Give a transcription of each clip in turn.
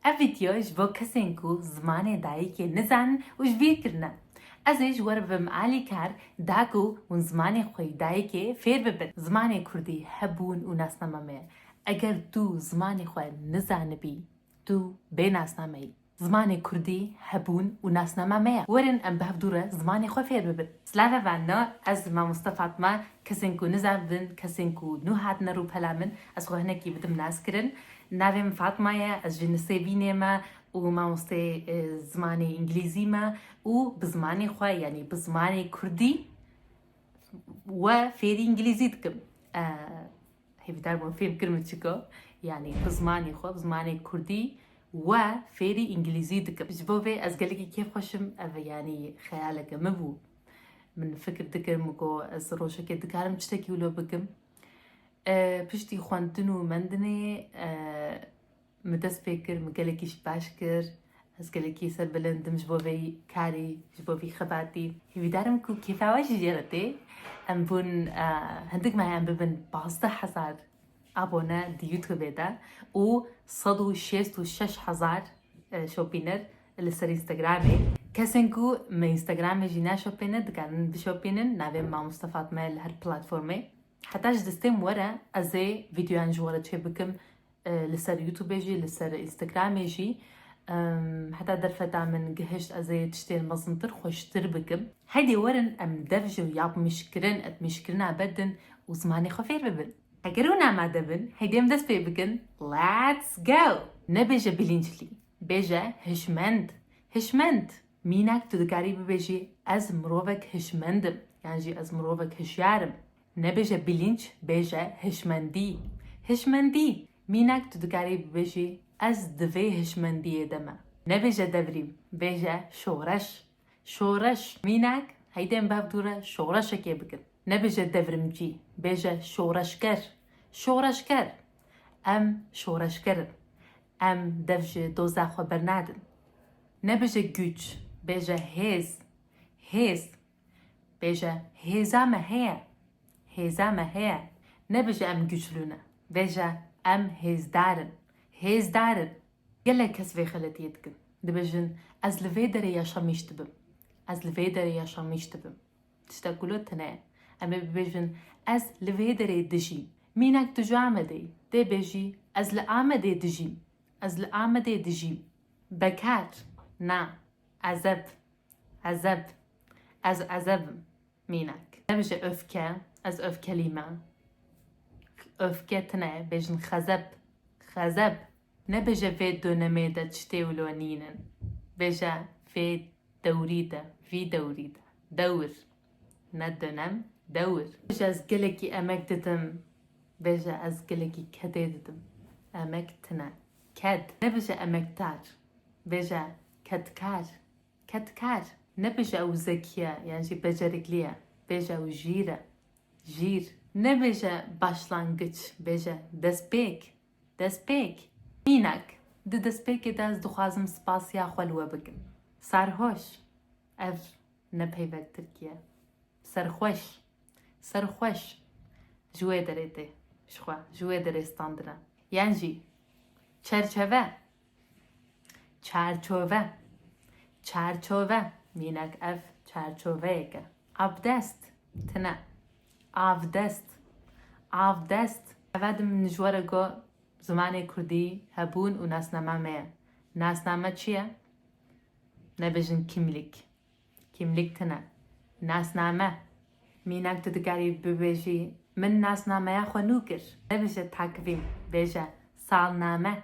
Ev vîdeo ji bo kesên ku zimanê dayîkê nizanin û ji vîr kirin e. Ez ê ji we re bibim alîkar da ku hûn zimanê xwe yê dayîkê fêr bibin. Zimanê kurdî hebûn û nasname me ye. Eger tu zimanê xwe nizanibî, tu bê nasname yî. Zimanê kurdî hebûn û nasname me ye. Werin em bi hev dû re zimanê xwe fêr bibin. Slave Vanno, ez mamoste Fatma, kesên ku nizanibin, kesên ku nû hatine rûpela min, Ez xwe hinekî bi din nas kirin. Navê min Fatma ye, ez ji Nisêbînê me û mamosteyê zimanê Îngilîzî me û bi zimanê xwe yanî bi zimanê Kurdî we fêrî Îngilîzî dikim. Hêvîdar bûm fêm kir min çiko. Yanî bi zimanê xwe, bi zimanê Kurdî we fêrî Îngilîzî dikim. Ji bo vê ez gelekî kêf xweşim ev yanî xeyaleke min bû. Min fikir dikim ku ez rojekê dikarim çitekî wilo bikim. Piştî xwendin û mendinê min dest pê kir, min gelekî ji baş kir. Ez gelekî serbilind im ji bo vê karî, ji bo vî xebatî. Hîvîdar im ku kêfa we jî jê re tê. Em bûn hindik mehe em bibin pazdeh hezar abone di Youtubê de û sed û şêst û şeş hezar şopîner. Li ser Instagramê, kesên ku me Instagramê jî naşopêne dikarin bişopînin navê Mamoste Fatme li her platformê. Heta ji destêm were ez ê vîdeoyan ji we re çêbikim li ser YouTubê jî li ser Instagramê jî heta derfeta min gihişt ez ê tiştên mezintir xweştir bikim. Heydê werin em dev ji yapmîşkirin, etmîşkirina bedin û zimanê xwe fêr bibin. Eger hûn amade bin heydê em dest pê bikin, let's go! Nebêje bilînclî, Bêje hişmend, hişmend. Mînak tu dikarî bibêjî ez mirovek hişmend im yan jî ez mirovek hişyar im. Nebêje bilînc, bêje hişmendî, hişmendî. Mînak tu dikarî bibêjî ez di vê hişmendiyê de me. Nebêje devrîm, bêje şoreş, Şoreş, mînak, heydên bev dû re şoreşekê bikin. Nebêje devrimcî, bêje şoreşger. Şoreşger, Em şoreşger in. Em dev ji doza xwe bernadin. Nebêje güç, bêje hêz. Hêz, bêje hêza me heye. Hêza me heye, Nebêje em güçlû ne. Bêje em hêzdar in. Hêzdar in, Gelek kes vê xeletiyê dikin. Dibêjin ez li vê derê ya Şamîş dibim. Ez li vê derê ya Şamîş dibim. Tiştek ku li tune ye. Em ê bibêjin ez li vê derê dijîm. Mînak tu ji Amedê yî. Dê bêjî ez li Amedê dijîm. Ez li Amedê dijîm. Bekar, Na. Ezeb. Ezeb. Ez ezeb im. Mînak. Nebêje öfke, ez öfkelî me. Öfke tine, bêjin xezeb, xezeb. Nebêje vê dönemê de çitê û lo nînin. Bêje vê dewrî de, vî dewrî de. Dewr. Ne dönem, dewr. Bêje ez gelekî emek didim. Bêje ez gelekî kedê didim. Emek tine, ked. Nebêje emekdar, bêje kedkar. Kedkar, nebêje ew zekî ye yan jî beceriklî ye, bêje ew jîr e, jîr. Nebêje başlangiç, bêje destpêk, destpêk. Mînak, Di destpêkê de ez dixwazim spasiya xwe li we bikim. Sarhoş, ev ne peyvek tirkî ye. Serxweş, serxweş, ji wê derê tê, ji xwe, ji wê derê standine. Yan jî, çerçeve. Çerçove Çerçove Mînek ev çerçoveyek e. Abdest Tine Avdest Avdest Eve di min ji we re got zimanê kurdî hebûn û nasname me ye. Nasname çi ye? Nebêjin kîmlîk. Kîmlîk tine. Nasname Mînek tu dikarî bibêjî min nasnameya xwe nû kir. Nebêje takvîm. Bêje salname.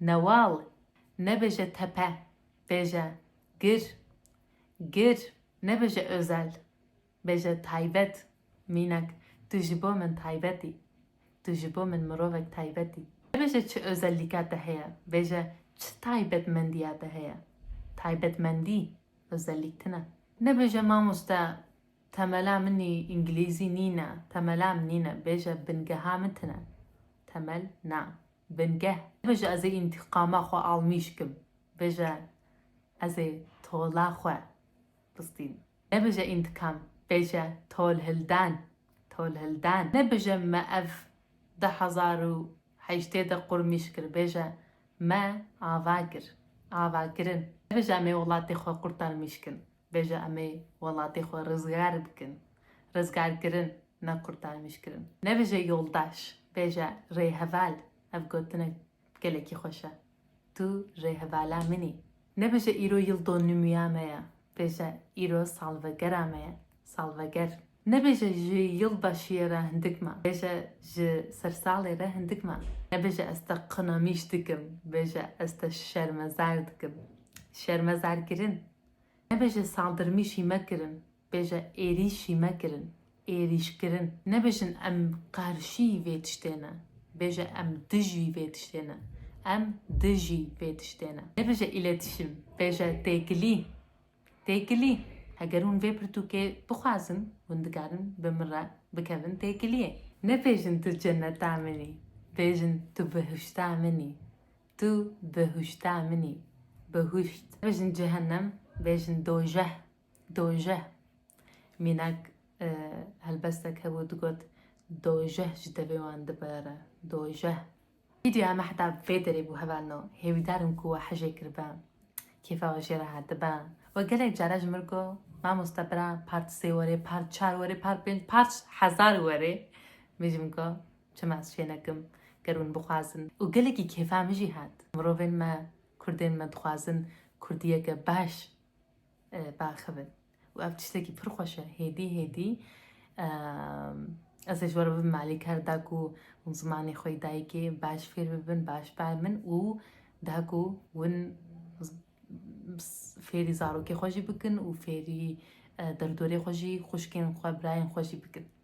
Newal, nebêje tepe, bêje gir. Gir, nebêje özel, bêje taybet. Mînak, tu ji bo min taybet î. Tu ji bo min mirovek taybet î. Nebêje çi özellîka te heye, bêje çi taybetmendiya te heye. Taybetmendî, özellîk tune. Nebêje mamoste, temela min î îngilîzî nîne, temela min nîne, bêje bingeha min tune. Temel, na. Bingeh. Bije ez ê întiqama xwe almîş kim. Bije ez ê tola xwe bistînim. Nebije întiqam, bije tolhildan, tolhildan. Nebije me ev du hezar û heştê de qurmîş kir, bije me ava kir, ava kirin. Nebije em ê welatê xwe qurtarmîş kin. Bêje em ê welatê xwe rizgar bikin. Rizgarkirin, ne qurtarmîşkirin. Nebêje yoldaş, bêje rêheval. Ev gotinek gelekî xweş e. Tu rêhevala min î. Nebêje îro yil donîmûya me ye, bêje îro salvegera me ye, salveger. Nebêje ji yildaşiyê re hindik me, bêje ji sersalê re hindik me. Nebêje ez te qinamîş dikim, bêje ez te şermezar dikim. Şermezarkirin, Nebêje saldirmîşî me kirin, bêje êrîşî me kirin, êrîşkirin. Nebêjin em qarşî vê tiştê ne, bêje em dijî vê tiştê ne, em dijî vê tiştê ne. Nebêje îletîşim, bêje têkilî, têkilî. Heger hûn vê pirtûkê bixwazin, hûn dikarin bi min re bikevin têkiliyê. Nebêjin tu ceneta min î, bêjin tu bihişta min î. Tu behuşta min î. Behuşt. Bêjin cehennem, bêjin dojeh, dojeh. Mînak helbestek hebû digot dojeh ji devê wan dibere, dojeh. Vîdyoya me heta vê derê bû hevalno. Hêvîdar im ku we hejê kiribe. Kêfa we jê re hatibe. We gelek care ji min re got Mamoste bira part sê were, part çar were, part pênc, part hezar were. Min jî min got Çima ez çê nekim ger hûn bixwazin. Û gelekî kêfa min jî hat. Mirovên me, kurdên me dixwazin kurdiyeke baş biaxivin û ev tiştekî pir xweş e. Hêdî hêdî ez ê ji we re bibim alîkar da ku hûn zimanê xwe yê dayikê baş fêr bibin, baş biarmin û da ku hûn fêrî zarokê xwe jî bikin û fêrî derdorê xwe jî, xwişkên xwe, birayên xwe jî bikin.